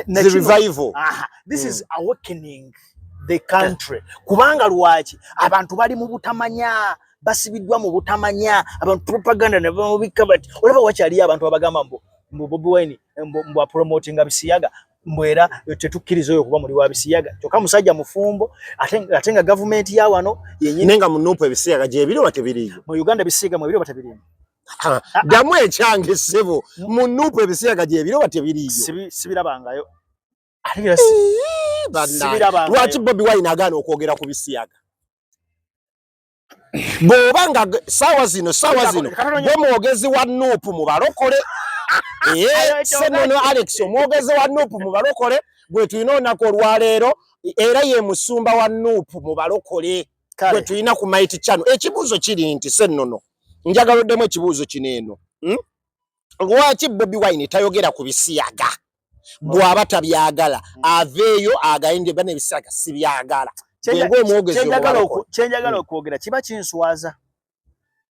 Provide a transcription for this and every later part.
the revival aha this mm. is awakening the country kubanga lwaki abantu bali mu butamanya basibiddwa mu butamanya abantu propaganda ne bamubikka bati olaba wakyaliyo abantu abagamba mbu mbu Bobi Wine mbu, mbu apromotinga bisiyaga mbu era tetukkiriza oyo kuba muli wa bisiyaga kyokka musajja mufumbo ate nga gavumenti ya wano yenyini nenga munupu ebisiyaga gyebiri oba tebiriyo mu Uganda bisiyaga mwebiri oba tebiriyo ddamu ekyange ssebo mu nuupu ebisiyaga gyebiro batyo biriyo sibirabangayo lwaki bobi wine agaana okwogera ku bisiyaga bwoba nga saawa zino saawa zino gwe mwogezi wa nuupu mu balokole eh, senono alex omwogezi wa nuupu mu balokole gwe tulina olunaku olwaleero era ye musumba wa nuupu mu balokole kale tulina ku mighty channel ekibuzo kiri nti sennono njagala oddemu ekibuzo kino eno hmm? lwaki bobi wine tayogera ku bisiyaga bwaba tabyagala hmm. aveeyo agayinde bana ebisiyaga sibyagala kyenjagala okwogera kiba kinswaza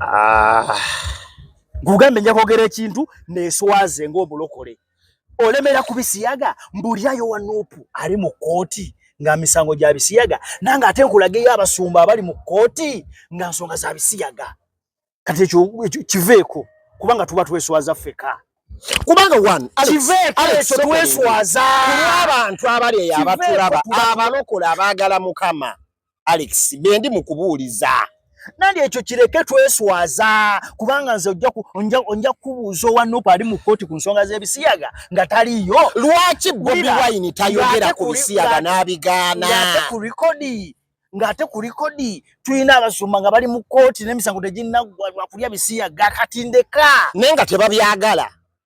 Ah. Gugambe nja kwogera ekintu neswaze ng'omulokole olemera ku bisiyaga mbulyayo wa nuupu ali mu kkooti nga misango gya bisiyaga nange ate nkulageyo abasumba abali mu kkooti nga nsonga za bisiyaga kati ekyo kiveeko kubanga tuba tweswaza ffeka kubanga one kiveeko tweswaza abantu abali eyo abatulaba abalokola abaagala mukama Alex bendi mukubuuliza nandi ekyo kireke tweswaza kubanga nze onja kubuuza owa nupu ali mu kkooti ku nsonga z'ebisiyaga nga taliyo lwaki bobi wine tayogera ku bisiyaga n'abigaana ate ku rikodi ng'ate ku rikodi tulina abasumba nga bali mu kkooti n'emisango teginnaggwa lwakulya bisiyaga kati ndeka naye nga tebabyagala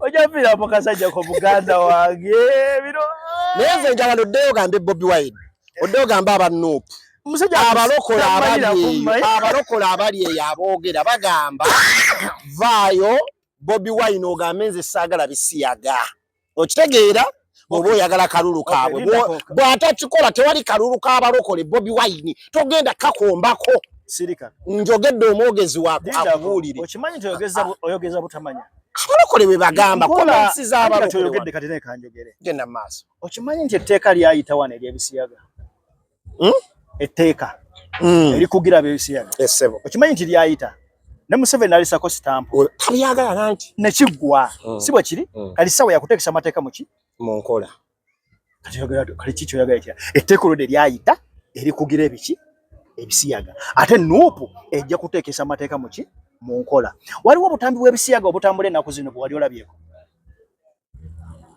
ojafiira mu kasajja ko muganda wange bino naye nze njagala oddeyo gambe bobi wine oddeyo gambe abanuupu abalokola abalokola abali eyo aboogera bagamba vaayo bobi wine ogambe nze saagala bisiyaga okitegeera oba oyagala kalulu kaabwe bw'atakikola tewali kalulu k'abalokole bobi wayini togenda kakombako njogedde omwogezi wako akubuulire okimanyi nti oyogeza butamanya abalokole bwe bagamba kolensi z'abalokole genda mu maaso okimanyi nti etteeka lyayitawana ery'ebisiyaga hmm? etteeka hmm. erikugira abebisiyaga esebo eh, okimanyi nti lyayita ne museveni alisako sitampu oh, talyagala nanti nekiggwa hmm. si bwe kiri kali sawa yakuteekesa amateeka muki mu nkola kali ki kyoyagala kira etteeka olwo de lyayita erikugira ebiki ebisiyaga ate nuupu ejja kuteekesa amateeka muki mu nkola waliwo obutambi bw'ebisiyaga obutambula ennaku zino bwe wali olabyeko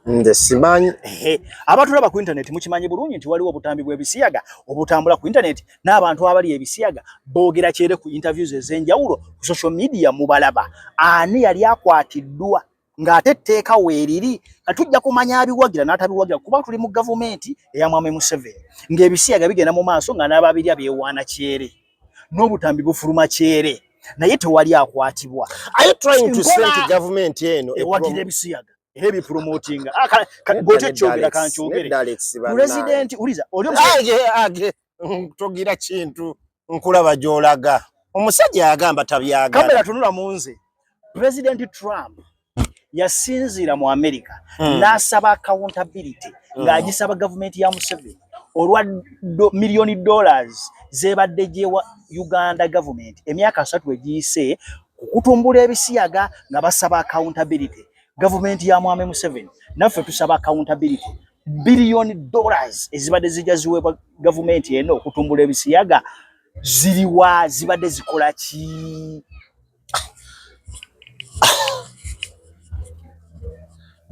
nze simanyi abantu laba ku intaneti mukimanyi bulungi nti waliwo obutambi bw'ebisiyaga obutambula ku intaneti n'abantu abali ebisiyaga boogera kyere ku interviews ez'enjawulo ku social media mubalaba ani yali akwatiddwa ng'ate etteeka weeriri nga tujja kumanya abiwagira n'atabiwagira kuba tuli mu gavumenti eya mwami museveni ng'ebisiyaga bigenda mu maaso nga n'ababirya beewaana kyere n'obutambi bufuluma kyere naye tewali akwatibwa gavumenti eno ewagira ebisiyaga era ebipromotinga ah, bwotyo kyogera kankyogere pulezidenti uliza togira kintu nkulaba gyolaga omusajja yagamba tabyagala kamera tunula mu nze pulezidenti trump yasinziira mu america mm. n'asaba accountability mm. ng'agisaba gavumenti ya museveni olwa do, miliyoni dollars zebadde gyewa uganda gavumenti emyaka asatu egiyise kukutumbula ebisiyaga nga basaba accountability gavumenti ya mwami museveni naffe tusaba accountability biliyoni dollars ezibadde zijja ziweebwa gavumenti eno okutumbula ebisiyaga ziriwa zibadde zikola ki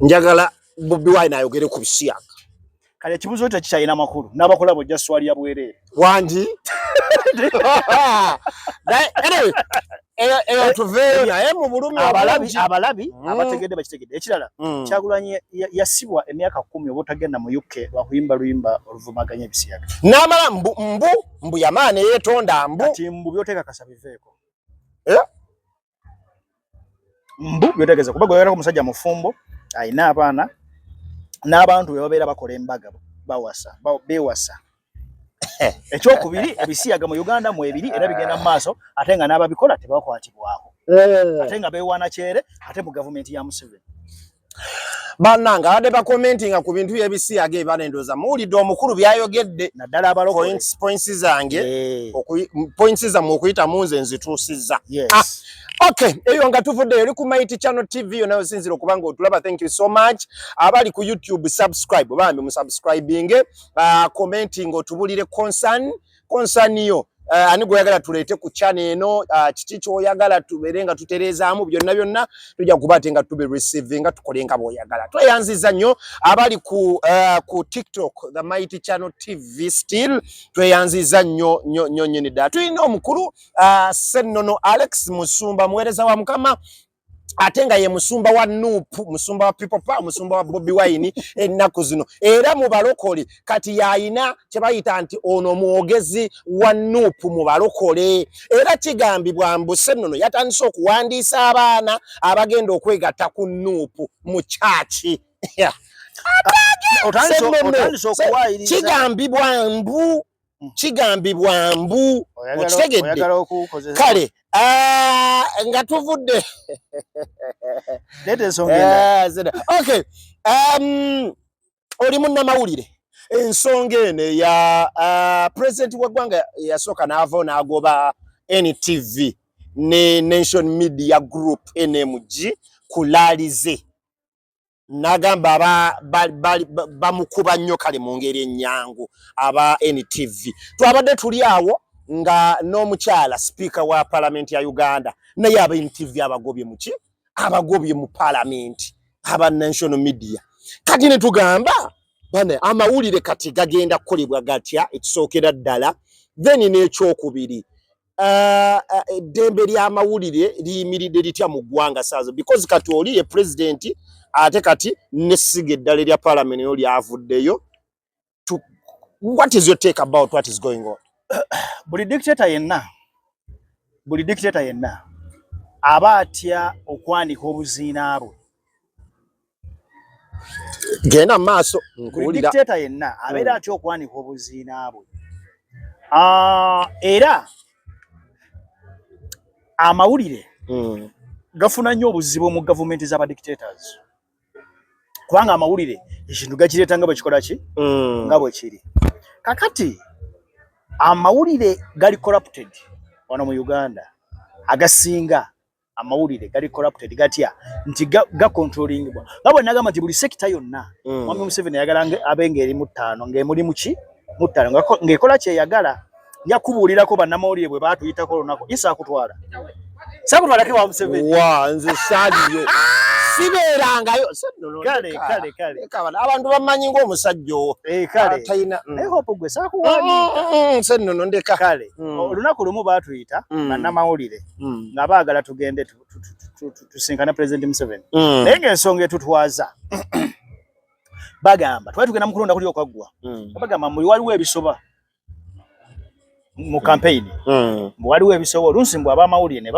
njagala Bobi Wine ayogere ku bisiyaga. Kale ekibuzo ekyo kikyalina makulu n'abakola bojja swali ya bwereere wangi abalabi abalabi mm. abategedde bakitegedde ekirala mm. kyagulanyi yasibwa emyaka kumi oba otagenda mu uk lwakuyimba luyimba oluvumaganya ebisiyaga n'amala mbu mbu mbu yamaana eyetonda mbu kati mbu byoteekakasa biveeko eh? mbu byotegeza kuba gwewerako musajja mufumbo alina abaana n'abantu be babeera bakola embaga bawasa bewasa ekyokubiri ebisiyaga mu uganda mu ebiri era bigenda mu maaso ate nga n'ababikola tebakwatibwako eh. ate nga bewaana kyere ate mu gavumenti ya museveni banange abadde bakomentinga ku bintu byebisiyaga ebana endooza muwulidde omukulu byayogedde naddala abalopoints zange points zammwe okuyita mu nze nzituusizza ah, ok eyo nga tuvuddeyo oli ku mighty channel tv yona osinzira okuba nga otulaba thank you so much abali ku youtube subscribe bambi musubscribinge ah, commentinga otubulire concern concern yo uh, ani gweyagala tuleete ku chana eno uh, kiki kyoyagala tubeere nga tutereezaamu byonna byonna tujja kuba ate nga tube receive nga tukole nga bwoyagala tweyanziza nnyo abali ku, uh, ku tiktok the mighty channel tv still tweyanziza nnyo nyo nyo nyini ddala tulina omukulu uh, sennono alex musumba muweereza wa mukama ate nga ye musumba wa nup musumba wa people power musumba wa bobi wine ennaku zino era mu balokole kati yayina kyebayita nti ono mwogezi wa nup mu balokole era kigambibwa mbusennono yatandise okuwandiisa abaana abagenda okwegatta ku nup mu kyaki kigambibwa mbu hmm. kigambibwa mbu okitegedde kale ah, nga tuvudde eh, um, oli munnamawulire ensonga eno eya ah, pulezidenti w'eggwanga yasooka n'avao n'agoba ntv ne nation media group nmg kulaalize nagamba bamukuba ba, ba, nnyo kale mu ngeri ennyangu aba NTV twabadde tuli awo nga n'omukyala sipiika wa palamenti ya Uganda naye aba NTV abagobye muki abagobye mu palamenti aba national media kati ne tugamba bane amawulire kati gagenda kukolebwa gatya ekisookera ddala then n'ekyokubiri eh, eh, eddembe uh, uh, ly'amawulire liyimiridde litya mu ggwanga saazo because kati oli ye pulezidenti ate kati nesiga eddala erya palamenti yo lyavuddeyo what is your take about what is going on buli dictator yenna buli dictator yenna aba atya okwanika obuziina bwe genda maaso nkuwulira dictator yenna abeera hmm. atya okwanika obuziina bwe ah, era amawulire hmm. gafuna nnyo obuzibu mu gavumenti z'aba dictators kubanga amawulire ekintu gakireeta nga bwekikola ki hmm. nga bwekiri kakati amawulire gali corrupted wano mu uganda agasinga amawulire gali corrupted gatya nti gacontrollingibwa ga nga bwe nagamba nti buli sekita yonna mm. mwami mm. museveni ayagala abe ng'eri mu ttaano ng'emuli muki mu ttaano ng'ekola kyeyagala nja kubuulirako bannamawulire bwe baatuyitako olunaku isa akutwala sakutwalako ewa museveni wa nze saaliyo sibeerangayo abantu bamanyi ngaomusajja owo eh, ah, talina mm. eh, mm, mm, sennono ndeka olunaku lumu baatuyita bannamawulire mm. nga baagala tugende tusinkane pulezidenti museveni mm. naye ngaensonga etutwaza bagamba twali tugenda mukulonda kuli okwaggwa mm. bagamba muli waliwo ebisoba mu kampeyini mbu waliwo ebisoba olunsi mbu abamawulire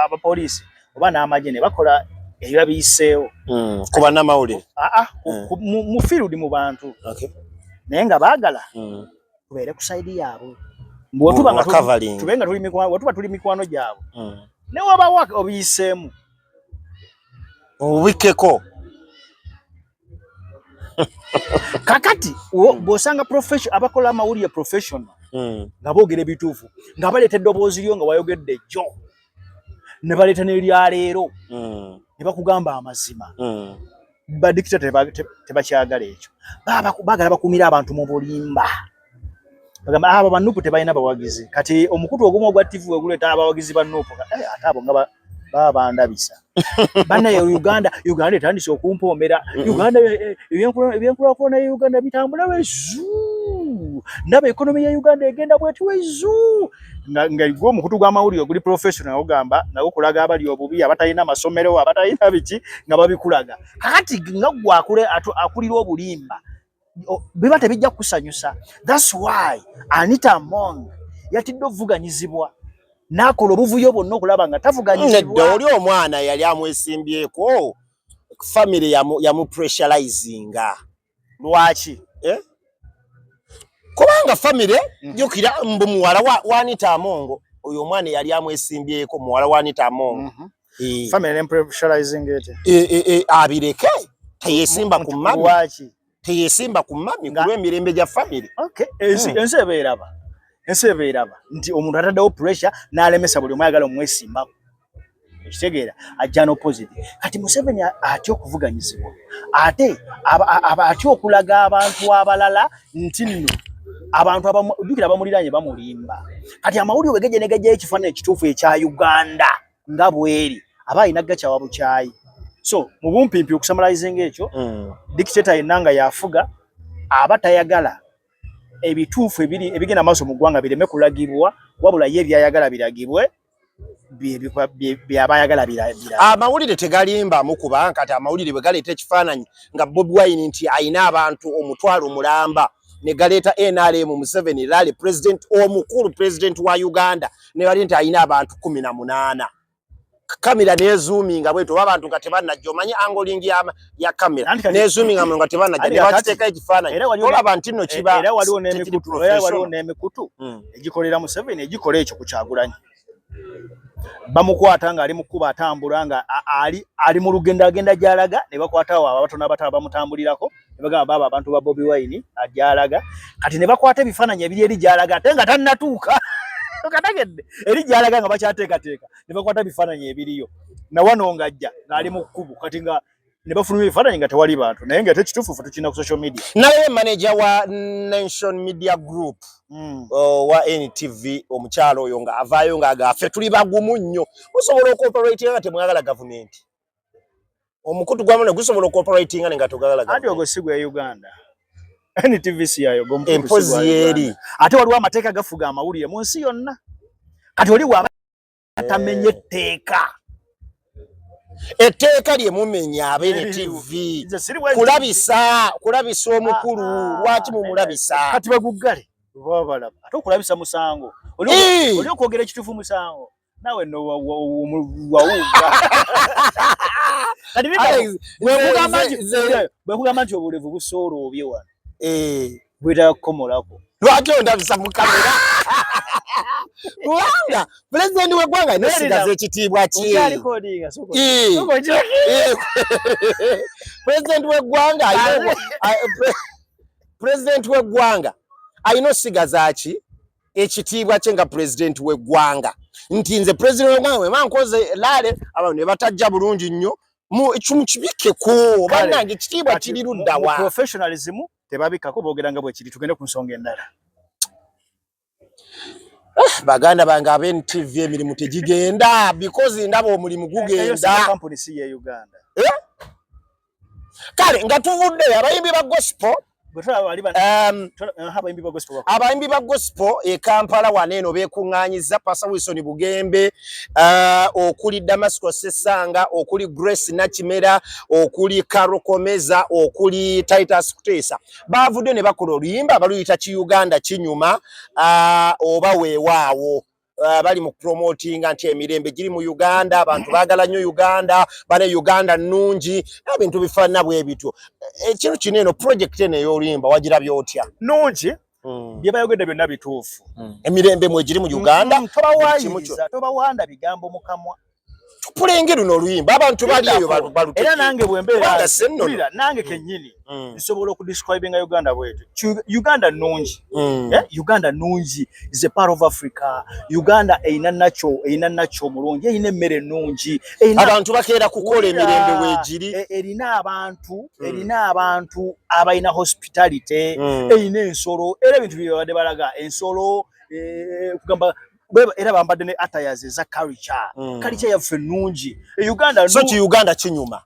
abapoliisi oba n'amagye ne bakola ebiba biyiseewo ku banamawulire mu field mu bantu naye nga baagala tubeere ku sayidi yaabwe bwetuba nga tuli mikwano wetuba tuli mikwano gyabwe mm. ne wabawa obiyiseemu obikkeko kakati hmm. bwosanga abakola amawulire professional hmm. nga boogera ebituufu nga baleeta eddoboozi lyo nga wayogedde jjo ne baleeta n'eryaleero hmm. ne bakugamba amazima badikita tebakyagala ekyo, bagala bakumira abantu mu bulimba. Bagamba ah, abo banupu tebalina bawagizi. Kati omukutu ogumu ogwa TV weguleeta abawagizi ba nupu, eh, ate abo nga baba bandabisa bana ya Uganda. Uganda etandise okumpoomera. Mm-hmm. Uganda eh, eh, ebyenkulakulana ya Uganda bitambula wezu, ndaba ekonomi ya Uganda egenda bweti wezu. nga nga igwo omukutu gwa mawuli oguli professional ogamba nago kulaga abali obubi abatalina masomero abatalina biki nga babikulaga kakati nga gwa kule akulira obulimba biba tebijja kusanyusa that's why anita mong yatidde ovuganyizibwa nakola obuvuyo bwonna okulaba nga tavuganyizibwa mm, oli omwana yali amwesimbyeko family yamu, yamu pressurizinga lwaki eh? kubanga famire mm. jukira mbu muwala wa, wanita amongo oyo omwana eyali amwesimbyeko muwala wanita amongo mm -hmm. Eh. family ne pressurizing it eh, eh, eh, abireke teyesimba ku mami waki teyesimba ku mami kulwa emirembe gya family okay ensi hmm. ensi ebeeraba ensi ebeeraba nti omuntu ataddewo pressure n'alemesa buli omu ayagala omwesimbako ekitegeera ajja n'opposite kati museveni atya okuvuganyizibwa ate atya okulaga abantu abalala nti nno abantu abajukira abamuliranye bamulimba kati amawulire wegejenegejeyo ekifaananyi ekituufu ekya uganda nga bweri aba alina gakyawa bukyayi so mu bumpimpi okusamalizinga ekyo mm. dictator yenna nga yafuga aba tayagala ebituufu ebiri ebigenda maaso mu ggwanga bireme kulagibwa wabula ye ebyayagala biragibwe byabayagala birabira amawulire tegalimba mukuba nkati amawulire bwe galeeta ekifaananyi nga bobi wine nti ayina abantu omutwalo mulamba ne galeeta nrm museveni rally president omukulu president wa uganda ne bali nti ayina abantu kumi na munaana kamera nezuuminga bwetu oba abantu nga tebanajja omanyi angolingi ya kamera nezuminga muno nga tebanajja ne bakiteeka ekifaananyi olaba nti nno kiba era waliwo n'emikutu era waliwo n'emikutu hmm. egikolera Museveni egikola ekyo ku Kyagulanyi bamukwata ng'ali mu kkuba atambula nga ali ali mu lugendo agenda gy'alaga ne bakwata awo abatono abato abamutambulirako ne bagamba baaba abantu ba Bobi Wine agyalaga kati ne bakwata ebifaananyi ebiri eri gy'alaga ate nga tannatuuka katagedde eri gy'alaga nga bakyateekateeka ne bakwata bifaananyi ebiriyo na wano ng'ajja ng'ali mu kkubo kati nga ne bafulumya ebifaananyi nga tewali bantu naye nga ate kituufu fe tukirina ku social media naye manaja wa nation media group mm. uh, wa ntv omukyalo oyo nga avaayo ng'aga ffe tuli bagumu nnyo musobola okoperatinga nga temwagala gavumenti omukutu gwamu ne gusobola okuoperatinga nenga togalalaga andi ogo si gwe uganda ntvc yayo empozi yeeri ate waliwo amateeka gafuga amawulire mu nsi yonna kati oli waba atamenye etteeka etteeka lye mumenya abeere tv kulabisa kulabisa omukulu ah, ah, lwaki mumulabisa kati baguggale oba balaba ate okulabisa musango oli okwogera ekituufu musango nawe no wawuga kati bwekugamba nti bwekugamba nti obulevu busoola obye wano eh. bwetaaga kukomolako lwaki ondabisa mu kamera kubanga pulezidenti w'eggwanga nesigaza ekitiibwa ki pulezidenti w'eggwanga pulezidenti w'eggwanga alina osigaza ki ekitiibwa kye nga pulezidenti w'eggwanga nti nze pulezidenti w'eggwanga wema nkoze laale abantu ne batajja bulungi nnyo mukibikeko banange ekitiibwa kiri luddawa professionalism tebabikako boogera nga bwekiri tugende ku nsonga endala eh, baganda bange aba ntv emirimu tegigenda because ndaba omulimu gugenda kale nga tuvudde abayimbi ba gospel Um, uh, abayimbi ba gospel e kampala wano eno bekuŋŋanyiza pasa wilson bugembe uh, okuli damasco sesanga okuli grace nakimera okuli karokomeza okuli titus kuteesa baavudde ne bakola oluyimba baluyita kiuganda kinyuma uh, oba weewaawo uh, bali mu promotinga nti emirembe giri mu Uganda, abantu baagala nnyo Uganda, bane Uganda nnungi, ebintu bifaanana bwe bityo. Ekintu eh, kino eno pulojekiti eno ey'oluyimba wagirabye otya? Nnungi. Mm. bye bayogedde byonna bituufu mm. emirembe mwegiri mu uganda mm, tobawayiriza tobawanda bigambo mukamwa tupulenge luno oluyimba abantu bali eyo balute era nange bwembeera sennola nange mm. kennyini mm. nsobola okudescribinga uganda bwetu uganda nungi mm. eh, uganda nungi is a part of africa uganda erina nakyo erina nakyo omulungi erina emmere ennungi abantu bakeera kukola emirembe wegiri e, erina abantu erina abantu abalina hospitality erina ensolo era ebintu byebabadde balaga ensolo eh, kugamba bweba era bambadde ne attires eza culture mm. culture yaffe nungi e Uganda so ki Uganda kinyuma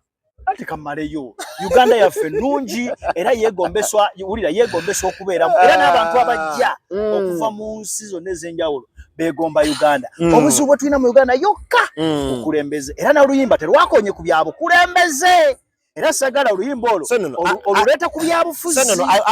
ate kamaleyo Uganda yaffe nungi era yegombeswa wulira yegombeswa okubeera era n'abantu abajja mm. okuva mu nsi zonna ez'enjawulo begomba Uganda mm. obuzibu bwe tulina mu Uganda yokka mm. okulembeze era n'oluyimba terwakonye ku byabukulembeze era sagala oluyimba olwo oluleeta ku byabufuzi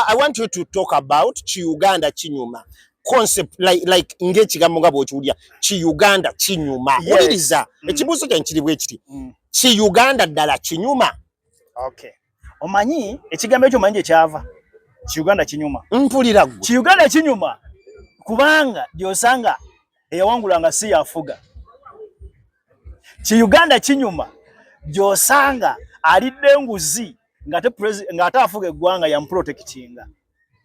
i want you to talk about ki uganda kinyuma concept like, like ng'ekigambo nga bw'okiwulira ki uganda kinyuma wuliriza mm. ekibuuzo kyange kiri bwe kiti mm. ki uganda ddala kinyuma okay omanyi ekigambo ekyo omanyi gye kyava ki uganda kinyuma mpulira gwe ki uganda kinyuma kubanga gy'osanga eyawangulanga si yafuga ki Uganda kinyuma gyosanga alidde nguzi ngate ngate afuga eggwanga ya mprotectinga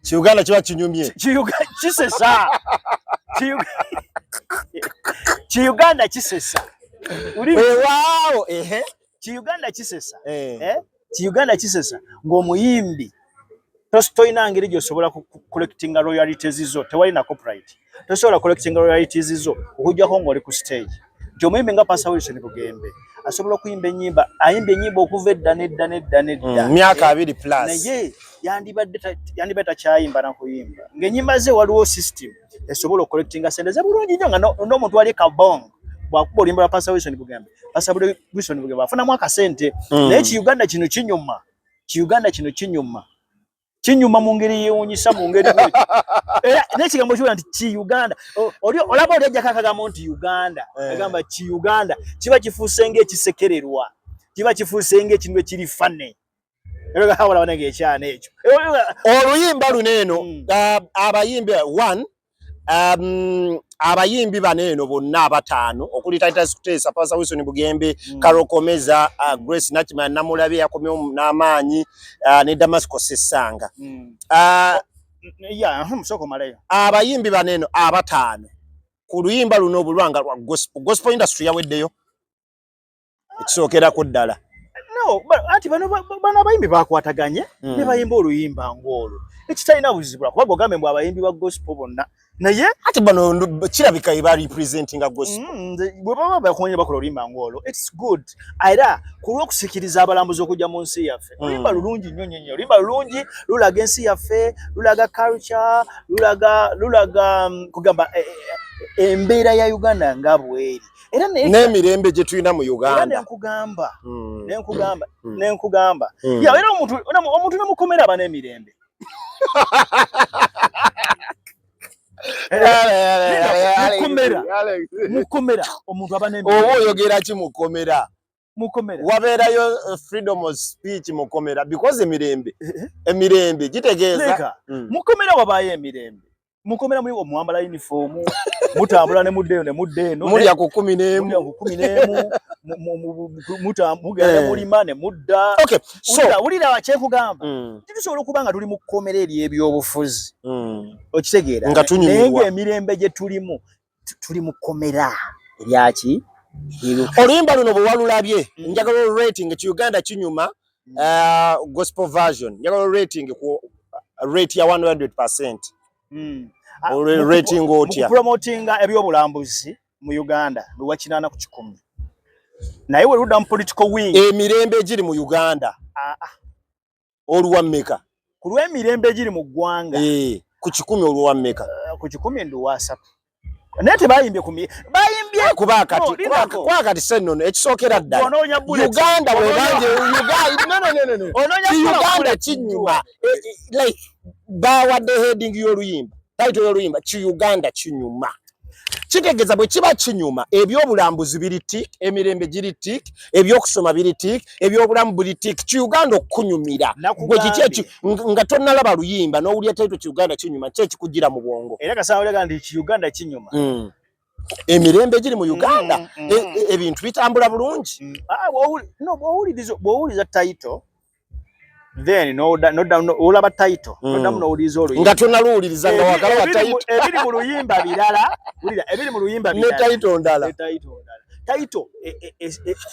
ki Uganda kiba kinyumye kisesa ki Uganda kisesa uli wao ehe ki Uganda kisesa eh, eh? ki Uganda kisesa ng'omuyimbi toyina ngeri gyosobola collectinga royalities zo tewali na copyright tosobola collectinga royalities zo okujjako ng'oli ku stage nti omuyimbi nga pasa wilson bugembe asobola okuyimba enyimba ayimba enyimba okuva edda nedda nedda nedda mm, myaka abiri plus naye yandibadde yandibadde takyayimba nakuyimba ng'enyimba ze waliwo system esobola okukolekitinga sente ze bulungi nnyo nga n'omuntu wali kabong bwakuba olimba lwa pasa wilson bugembe pasa wilson bugembe afunamu akasente hmm. naye kiuganda kino kinyuma kiuganda kino kinyuma kinyuma mu ngeri yewunyisa mu ngeri era n'ekigambo kiwera nti ki uganda oli olaba oli ajjako akagambo nti uganda eh. agamba ki uganda kiba kifuuse ng'ekisekererwa kiba kifuuse ng'ekintu ekiri fane oluyimba luno eno hmm. uh, abayimbi one um, abayimbi bano eno bonna abataano okuli titus kuteesa pasa wilson bugembe mm. karokomeza uh, grace nakima namulabe yakomyewo n'amaanyi uh, ne damasco sesanga mm. uh, yeah, abayimbi bano eno abataano ku luyimba luno obulwanga lwa gospel gospel industry yaweddeyo ekisookerako ddala anti bano abayimbi bakwataganye hmm. ne bayimba oluyimba ng'olwo ekitalina buzibu lwakuba gogambe mbu abayimbi ba gospel bonna naye ati bano kirabika eba representing a gospel hmm, bwe baba bakonye bakola oluyimba ng'olwo its good era ku lw'okusikiriza abalambuzi okujja mu nsi yaffe hmm. oluyimba lulungi nnyo nnyo nnyo oluyimba lulungi lulaga ensi yaffe lulaga culture lulaga lulaga mm, kugamba eh, eh, eh, embeera ya uganda nga bweri era n'emirembe gye tulina mu uganda nenkugamba hmm. nenkugamba hmm. nenkugamba hmm. ya era omuntu omuntu nemukomera aba n'emirembe mukomera mukomera omuntu aba n'emirembe oba oyogera ki mukomera mukomera wabeerayo uh, freedom of speech mukomera because emirembe eh, eh. emirembe gitegeeza mm. mukomera wabaayo emirembe mukomera muli omwambala uniform mutambula ne mudde ne mudde no mulya ku 10 ne mu 10 ne mu mutambula ne muli mane mudda okay so ulira wa cheku gamba mm. titusobola kuba nga tuli mukomera eri ebyobufuzi mm. okitegeera nga tunyumirwa nenge emirembe je tulimu tuli mu komera eryaki oluyimba luno bwe walulabye mm. njagala olurating ki uganda kinyuma mm. uh, gospel version njagala olurating ku uh, rate ya 100 percent mm. ah, olurating otya promotinga ebyobulambuzi mu uganda lwewakinaana ku kikumi naye weruda mu political wing emirembe egiri mu uganda ah, ah. oluwa meka ku lw'emirembe egiri mu ggwanga eh, ku kikumi oluwa meka eh, ku kikumi nduwa asatu naye tebayimbye ku bayimbye eh, kuba kati kuba kati sennono ekisookera ddala uganda webanje uganda kinyuma like bawadde heading y'oluyimba Taito y'oluyimba ki Uganda kinyuma. Kitegeza bwe kiba kinyuma ebyobulambuzi biri tik, emirembe giri tik, ebyokusoma biri tik, ebyobulamu buli tik. Ki Uganda okunyumira. Gwe kiki eki nga tonnalaba luyimba n'owulira taito ki Uganda kinyuma kye kikujira mu bwongo. Era kasaawo yaga ndi ki Uganda kinyuma. Mm. emirembe egiri mu uganda mm, mm, mm. E, e, ebintu bitambula bulungi ah, bwowuliriza tayito then no da, no da, no ola ba title mm. no da muno ulizo oluyi nga tuna luuliza nga wakala ba title ebiri mu luyimba bilala ulira ebiri mu luyimba bilala ne title ndala ne title ndala title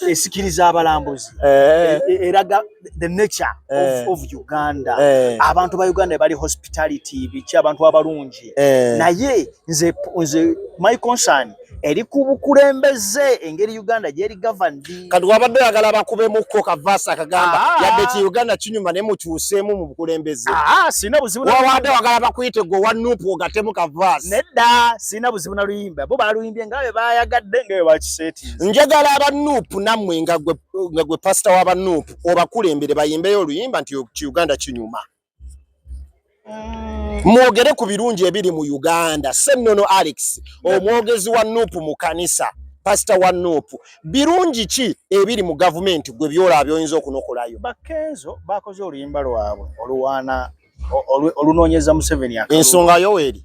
esikiriza e, e, e, abalambuzi eh. eraga the nature eh. of, of Uganda eh. abantu ba Uganda bali hospitality bichi abantu abalungi eh. naye nze nze my concern eri ku bukulembeze engeri uganda gyeri gavandi kati wabadde oyagala bakubemukko kavaasi akagamba ah. yadde ki uganda kinyuma naye mukyuseemu mu bukulembeze ah, sirina buzibu wabadde wagala bakuyite gwe owa nupu ogatemu kavaasi nedda sirina buzibu na luyimba bo baluyimbye nga bwe bayagadde nga bwe bakiseetinze njagala aba nupu nammwe nga gwe pasita w'aba nupu obakulembere bayimbeyo oluyimba nti uganda kinyuma mm. mwogere ku birungi ebiri mu Uganda. Ssennono Alex omwogezi wa nup mu kanisa pasita wa nup birungi ki ebiri mu gavumenti gwe byolaba byoyinza okunokolayo? Bakenzo bakoze oluyimba lwabwe oluwaana olunoonyeza Museveni ensonga Yoweri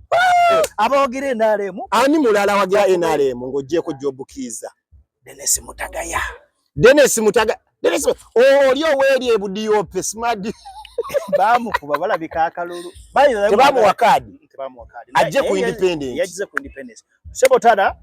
abawagira NRM ani mulala wagira NRM ng'ogyeko Job Kiiza Dennis Mutagaya Dennis Mutaga Dennis oli oweeri ebudiope smart bamukuba balabika akalulu tebamuwa kaadi ajje ku independence Sebo tada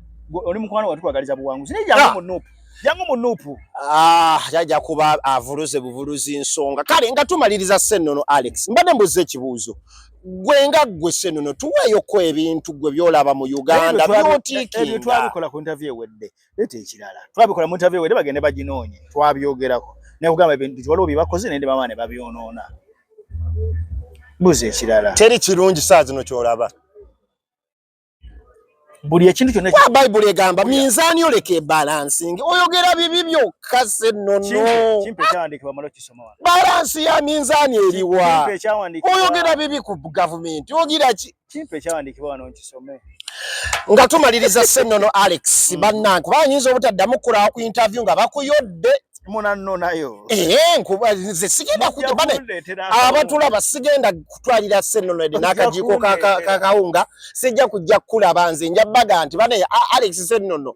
oli mukwano watu kwagaliza buwanguzi. Ni jangu ah. munupu. Jangu munupu. Ah, jaja kuba avuruze buvuruzi nsonga. Kale nga tumaliriza senono Alex. Mbade mbuze kibuzo. Gwe nga gwe senono tuweyo kwa ebintu gwe byolaba mu Uganda. Byotiki. Ebi twabikola ku interview wedde. Lete ekirala. Twabikola mu interview wedde bagende bajinonye. Twabyogerako. Ne kugamba ebintu waliwo bibakoze nende mama ne babyonoona. Buze ekirala. Teri kirungi saa zino kyolaba. buli ekintu kyonna wa bayibuli egamba minzaani oleka ebalansingi oyogera bibi byokka sennono balansi ya minzaani eriwa oyogera bibi ku gavumenti ogira ki nga tumaliriza sennono alex mm. bannange kuba ayinza obutaddamu kulawa ku interview nga bakuyodde munannonayo eh, nkuba nze sigenda kuja bane abatulaba sigenda kutwalira sennono edi n'akajiiko kakawunga sijja kujja kukulaba nze nja baga nti bane alex sennono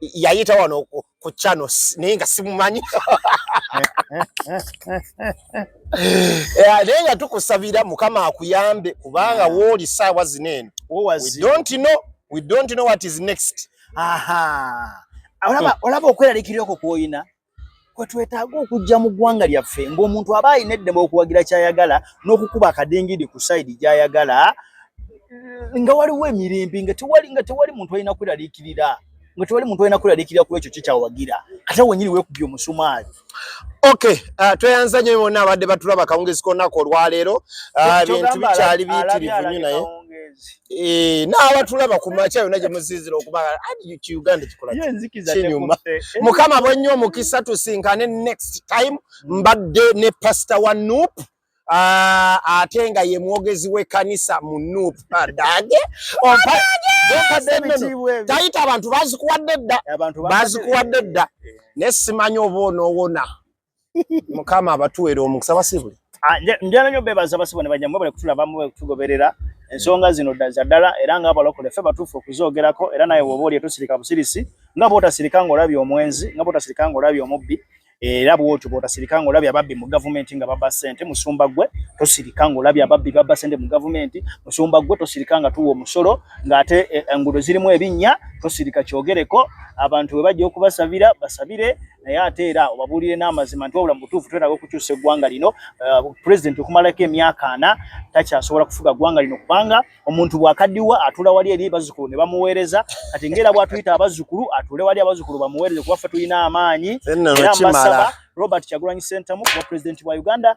yayita wano ku chano naye nga simumanyi eh, naye nga tukusabira mukama akuyambe kubanga wooli saawa zino eno we don't know what is next olaba olaba okweraliikirira okwo kw'olina kwe twetaaga okujja mu ggwanga lyaffe ng'omuntu aba alina eddembe okuwagira ky'ayagala n'okukuba akadingidi ku sayidi gy'ayagala nga waliwo emirembe nga tewali nga tewali muntu alina kweraliikirira nga tewali muntu alina kweraliikirira ku ekyo kikyawagira ate wenyini weekubye omusumaali Okay, uh, tweyanza nyo bona abadde batulaba kawungezi konaku olwaleero uh, bintu bikyali biyitirivu nyo naye kawungezi Eh, n'abatulaba ku makya yonna gye musinzira okuba uganda kikolakinyuma mukama bwennyo omukisa tusinkane next time mbadde ne pasita wa nup ah, ate nga ye mwogezi w'ekkanisa mu nup adage tayita abantu bazikuwadde dda bazikuwadde dda naye simanyi oba onoowona mukama abatuwera omukisa basibwe ah, njala nyo bebaza basibwe ne bajambo bale kutula bamu kutugoberera ensonga zino daza dala era nga abalokole fe batufu okuzogerako era naye woba oli etusirika busirisi nga bota sirika ngo labi omwenzi nga bota sirika ngo labi omubbi era bwotyo bota sirika ngo labi ababbi mu government nga baba sente musumba gwe tosirika ngo labi ababbi baba sente mu government musumba gwe tosirika nga tuwo musolo nga ate eh, engudo zirimu ebinya tosirika kyogereko abantu webajja okubasabira basabire naye ate era obabuulire n'amazima nti wabula mu butuufu twetaaga okukyusa eggwanga lino. Eh, pulezidenti okumalako emyaka ana takyasobola kufuga ggwanga lino kubanga omuntu bwakaddiwa atuula wali eri bazzukulu ne bamuweereza kati ng'era bwatuyita abazzukulu atuule wali abazzukulu bamuweereze kuba ffe tulina amaanyi era mbasaba Robert Kyagulanyi Ssentamu kuba pulezidenti wa Uganda